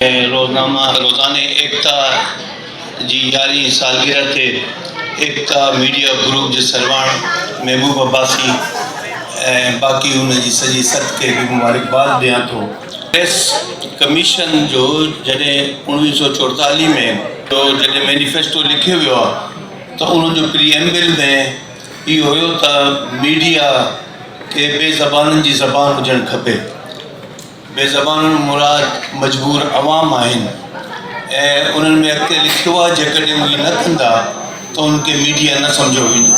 روزنامه روزاني ايڪتا جي يارهين سالگرهه تي ايڪتا ميڊيا گروپ جي سرواڻ محبوب عباسي ۽ باقي ان جي سڄي ست کي به مبارڪباد ڏيان ٿو. پريس ڪميشن جو جڏهن اوڻويهه سؤ چوئيٽالهه ۾ جو جڏهن مينيفيسٽو لکيو ويو آهي ته ان جو پريئمبل ۾ اهو هيو ته ميڊيا کي ٻي زبانن جي زبان هجڻ کپي. بي زبانن مراد مجبور عوام آهن ۽ انهن ۾ اڳتي لکيو آهي جيڪڏهن اهي نه ڪندا ته انهن کي ميڊيا نه سمجهيو ويندو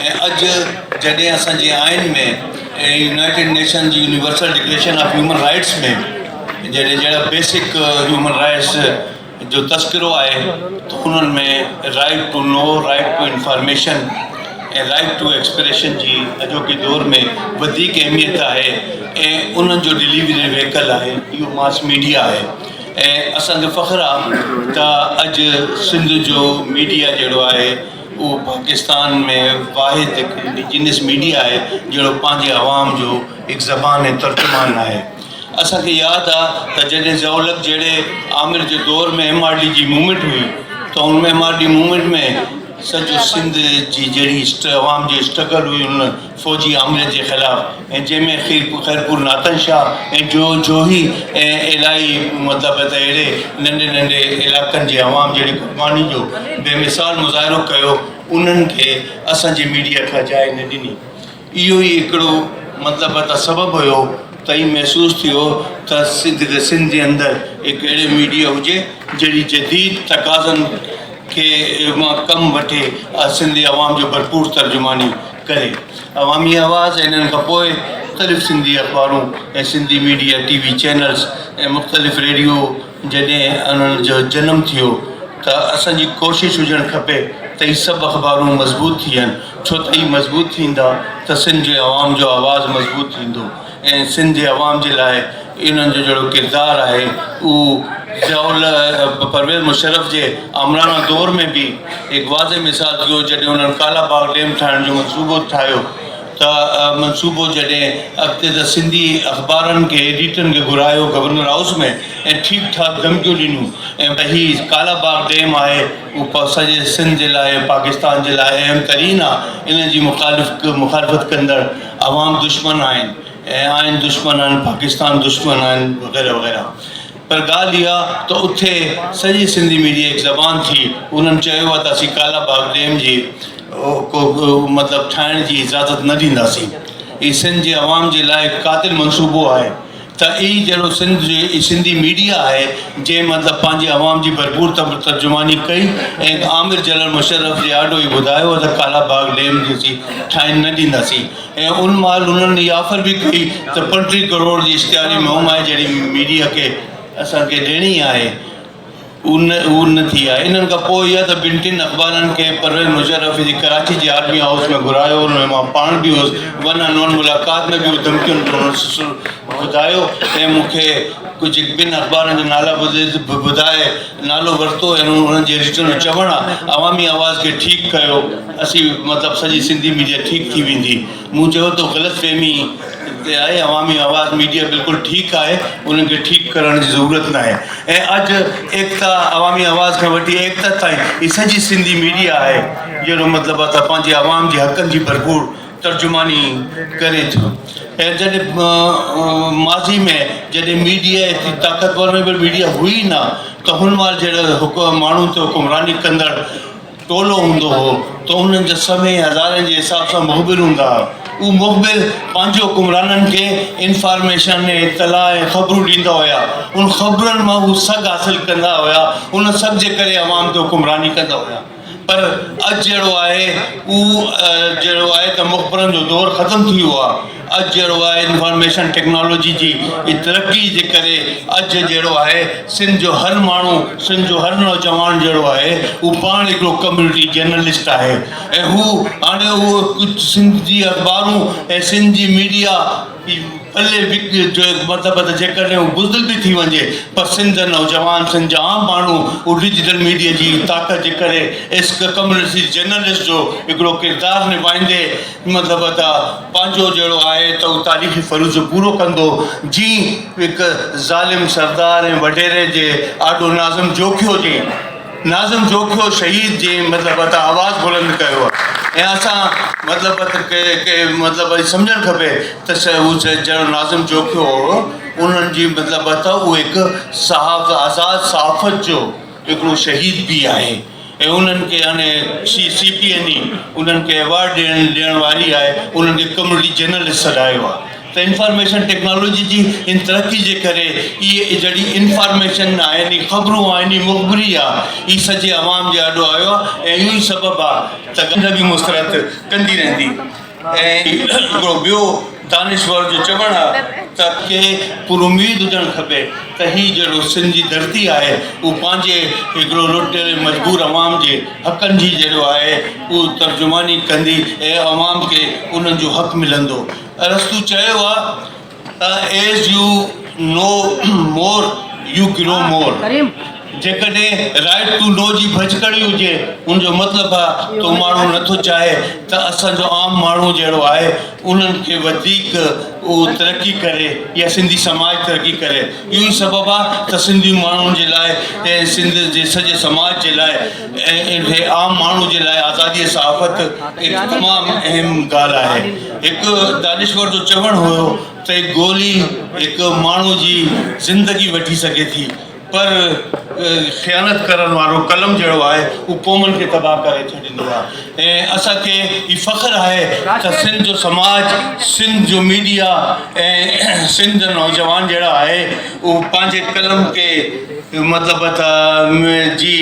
۽ اڄ جڏهن اسان جي آئين ۾ ۽ يونائيٽيڊ نيشن جي universal declaration of human rights ۾ جڏهن جهڙا بيسڪ هيومن رائيٽس جو تذڪرو آهي ته انهن ۾ right to know, right to information ۽ right to expression جي اڄوڪي دور ۾ وڌيڪ اهميت آهي ۽ انهن جو ڊليوري ويهڪل آهي اهو ماس ميڊيا آهي ۽ اسان کي فخر آهي ته اڄ سنڌ جو ميڊيا جهڙو آهي اهو پاڪستان ۾ واحد هڪ انڊيجينس ميڊيا آهي جهڙو پنهنجي عوام جو هڪ زبان ۽ ترجمان آهي. اسان کي ياد آ ته جڏهن ضياء الحق جهڙي آمر جي دور ۾ ايم آر ڊي جي موومينٽ هئي ته ان ايم آر ڊي موومينٽ ۾ سڄو سنڌ جي جهڙي عوام جي اسٽرگل هئي ان فوجي آمريت جي خلاف ۽ جنهن ۾ خيرپور ناتن شاهه ۽ جو جوهي ۽ الائي مطلب ته اهڙي ننڍي ننڍي علائقن جي عوام جهڙي قرباني جو بي مثال مظاهرو ڪيو انهن کي اسان جي ميڊيا ڪا جاء نه ڏني اهو ئي هڪڙو مطلب ته سبب هيو ته هي محسوس ٿيو ته سنڌ جي اندر هڪ اهڙي ميڊيا هجي جهڙي جديد تقاضن کي مان ڪم وٺي سنڌي عوام جو ڀرپور ترجماني ڪري. عوامي آواز ۽ انهن کان پوء مختلف سنڌي اخبارون ۽ Sindhi media T V channels ۽ مختلف ريڊيو جڏهن انهن جو جنم ٿيو ته اسان جي ڪوشش هجڻ کپي ته هي سڀ اخبارون مضبوط ٿين ڇو ته اهي مضبوط ٿيندا ته سنڌ جي عوام جو آواز مضبوط ٿيندو ۽ سنڌ جي عوام جي لاء انهن جو جهڙو ڪردار آهي اهو ضياء الله پرويز مشرف جي آمراڻا دور ۾ به هڪ واضح مثال ٿيو جڏهن انهن ڪالا باغ ڊيم ٺاهڻ جو منصوبو ٺاهيو ته منصوبو جڏهن اڳتي ته سنڌي اخبارن کي ايڊيٽرن کي گهرايو گورنر هائوس ۾ ۽ ٺيڪ ٺاڪ ڌمڪيون ڏنيون ۽ به هي ڪالا باغ ڊيم آهي اهو سڄي سنڌ جي لاء پاڪستان جي لاء اهم ترين آ ان جي مخالف مخالفت ڪندڙ عوام دشمن آهن ۽ آهن دشمن آهن پاڪستان دشمن آهن وغيره وغيره پر ڳالهه اها ته اٿي سڄي سنڌي ميڊيا هڪ زبان ٿي. انهن چيو ته اسين ڪالا باغ ڊيم جي ڪو به مطلب ٺاهڻ جي اجازت نه ڏينداسين. هي سنڌ جي عوام جي لاء هڪ قاتل منصوبو آهي ته اي جهڙو سنڌ جي اي سنڌي ميڊيا آهي جنهن مطلب پنهنجي عوام جي ڀرپور ترجماني ڪئي ۽ آمر جنرل مشرف جي آڏو هي ٻڌايو ته ڪالا باغ ڊيم جي اسين ٺاهڻ نه ڏينداسين. ۽ ان مهل انهن هي آفر به ڪئي ته پنٽيهه ڪروڙ جي اشتهاري مهمائي جهڙي ميڊيا کي اسان کي ڏيڻي آهي ان هو نه ٿي آهي انهن کان پوء اها ته ٻن ٽن اخبارن کي پرويز مشرف جي ڪراچي جي آرمي هائوس ۾ گهرايو ان ۾ مان پاڻ به هوس ون ان ون ملاقات ۾ به اهو ڌمڪين جو انهن سلسلو ٻڌايو ۽ مون کي ڪجهه ٻن اخبارن جا نالا ٻڌائي نالو ورتو ۽ انهن جي ريٽن جو چوڻ آ عوامي آواز کي ٺيڪ ڪيو اسين مطلب سڄي سنڌي ميڊيا ٺيڪ ٿي ويندي مون چيو تو غلط فهمي تي آهي عوامي آواز ميڊيا بلڪل ٺيڪ آهي انهن کي ٺيڪ ڪرڻ جي ضرورت ناهي ۽ اڄ ايڪتا عوامي آواز کان وٺي ايڪتا تائين هي سڄي سنڌي ميڊيا آهي جهڙو مطلب آ ته پنهنجي عوام جي حقن جي ڀرپور ترجماني ڪري ٿو ۽ جڏهن ماضي ۾ جڏهن ميڊيا ايتري طاقتور ۽ ميڊيا هئي ئي نه ته هن مهل جهڙو ماڻهن تي حڪمراني ڪندڙ ٽولو هوندو هو ته انهن جا سوين ۽ هزارين جي حساب سان مخبر هوندا هئا اهي مخبر پنهنجي حڪمرانن کي انفارميشن ۽ اطلاع ۽ خبرون ڏيندا هيا انهن خبرن مان هو سگهه حاصل ڪندا هيا ان سگهه جي ڪري عوام تي حڪمراني ڪندا هيا پر اڄ جهڙو آهي اهو جهڙو آهي ته مخبرن جو دور ختم ٿي ويو آهي اڄ جهڙو آهي انفارميشن ٽيڪنالاجي جي ترقي جي ڪري اڄ جهڙو آهي سنڌ جو هر ماڻهو سنڌ جو هر نوجوان جهڙو آهي اهو پاڻ هڪڙو ڪميونٽي جرنلسٽ آهي ۽ هو هاڻي اهو ڪجهه سنڌ جي اخبارون ۽ سنڌ جي ميڊيا پلي وڪي جو هي مطلب ته جيڪڏهن هو بزدل به ٿي وڃي پر سنڌ جا نوجوان سنڌ جا عام ماڻهو اهو ڊجيٽل ميڊيا جي طاقت جي ڪري اسڪ ڪمرسي جرنلسٽ جو هڪڙو ڪردار نڀائيندي مطلب ته پنهنجو جهڙو آهي ته هو تاريخي فرض پورو ڪندو جي هڪ ظالم سردار ۽ وڏيري جي آڏو ناظم جوکيو جي ناظم جوکيو شهيد جي مطلب هٿان آواز بلند ڪيو ۽ اسان مطلب کي مطلب سمجهڻ کپي ته جهڙو ناظم جوکيو هو انهن جي مطلب اهو هڪ صحاف آزاد صحافت جو هڪڙو شهيد به آهي ۽ انهن کي هاڻي C C P N A انهن کي ايوارڊ ڏيڻ ڏيڻ واري آهي انهن کي ڪميونٽي جرنلسٽ سڏايو آهي ته انفارميشن ٽيڪنالاجي جي هن ترقي جي ڪري ئي اهي جهڙي انفارميشن آهن ئي خبرون آهن ئي مخبري آ ئي سڄي عوام جي آڏو آيو آ ۽ اهو ئي سبب آ ته گنڊ به مسرت ڪندي رهندي ۽ هڪڙو ٻيو دانشور جو چوڻ آ ته کي پر اميد هجڻ کپي ته هي جهڙو سنڌ جي ڌرتي آهي اهو پنهنجي هڪڙو لٽيل مجبور عوام جي حقن جي جهڙو آهي اهو ترجماني ڪندي ۽ عوام کي انهن جو حق ملندو. ارسطو چيو آهي ته As you know more, you grow more. جيڪڏهن Right to Know جي ڀڃڪڙي هجي، ان جو مطلب آهي ته اهو ماڻهو نٿو چاهي ته اسان جو عام ماڻهو جهڙو آهي، انهن کي وڌيڪ اهو ترقي ڪري يا سنڌي سماج ترقي ڪري. اهو ئي سبب آهي ته سنڌي ماڻهن جي لاء ۽ سنڌ جي سڄي سماج جي لاء ۽ عام ماڻهو جي لاء آزادي صحافت هڪ تمام اهم ڳالهه آهي. هڪ دانشور جو چوڻ هيو ته هڪ گولي هڪ ماڻهو جي زندگي وٺي سگهي ٿي پر خيانت ڪرڻ وارو قلم جهڙو آهي هو قومن کي تباهه ڪري ڇڏيندو آهي ۽ اسان کي هي فخر آهي ته سنڌ جو سماج سنڌ جو ميڊيا ۽ سنڌ جو نوجوان جهڙا آهي اهو پنهنجي قلم کي مطلب ته جي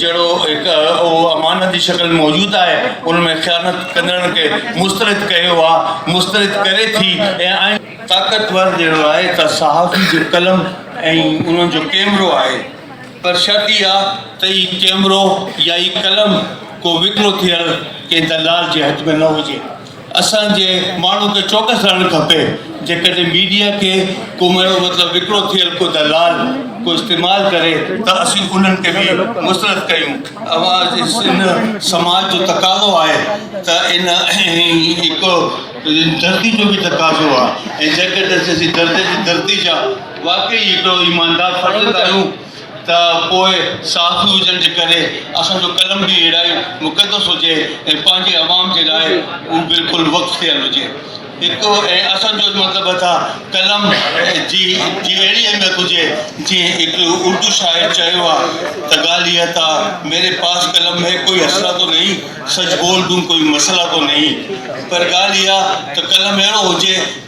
جهڙو هڪ اهو امانت جي شڪل ۾ موجود آهي، ان ۾ خيانت ڪندڙن کي مسترد ڪيو آهي، مسترد ڪري ٿي ۽ آئين. طاقتور جهڙو آهي ته صحافي جو قلم ۽ انهن جو ڪيمرو آهي، پر شرط اها ته هي ڪيمرو يا هي قلم ڪو وڪرو ٿيل ڪنهن دلال جي هٿ ۾ نه هجي. اسان جي ماڻهو ته چوڪس رهڻ کپي جيڪڏهن ميڊيا کي ڪو مهڻو مطلب وڪرو ٿيل ڪو دلال ڪو استعمال ڪري ته اسين انهن کي به مسرت ڪيون ان سماج جو تقاضو آهي ته ان هڪ دردي جو به تقاضو آهي ۽ جيڪڏهن اسين دردي جي دردي جا واقعي هڪڙو ايماندار فرد ڪريون ته پوء صحافي هجڻ جي ڪري اسان جو قلم به اهڙائي مقدس هجي ۽ پنهنجي عوام جي لاء اهو بلڪل وقف ٿيل هجي. هڪ ۽ اسان جو مطلب ته قلم جي جي اهڙي اهميت هجي جيئن هڪ اردو شاعر چيو آهي ته ڳالهه اها ته ميري پاس قلم هي ڪوئي اسرا تو نهين سچ بول دون ڪوئي مسئلا تو نهين پر ڳالهه اها ته قلم اهڙو هجي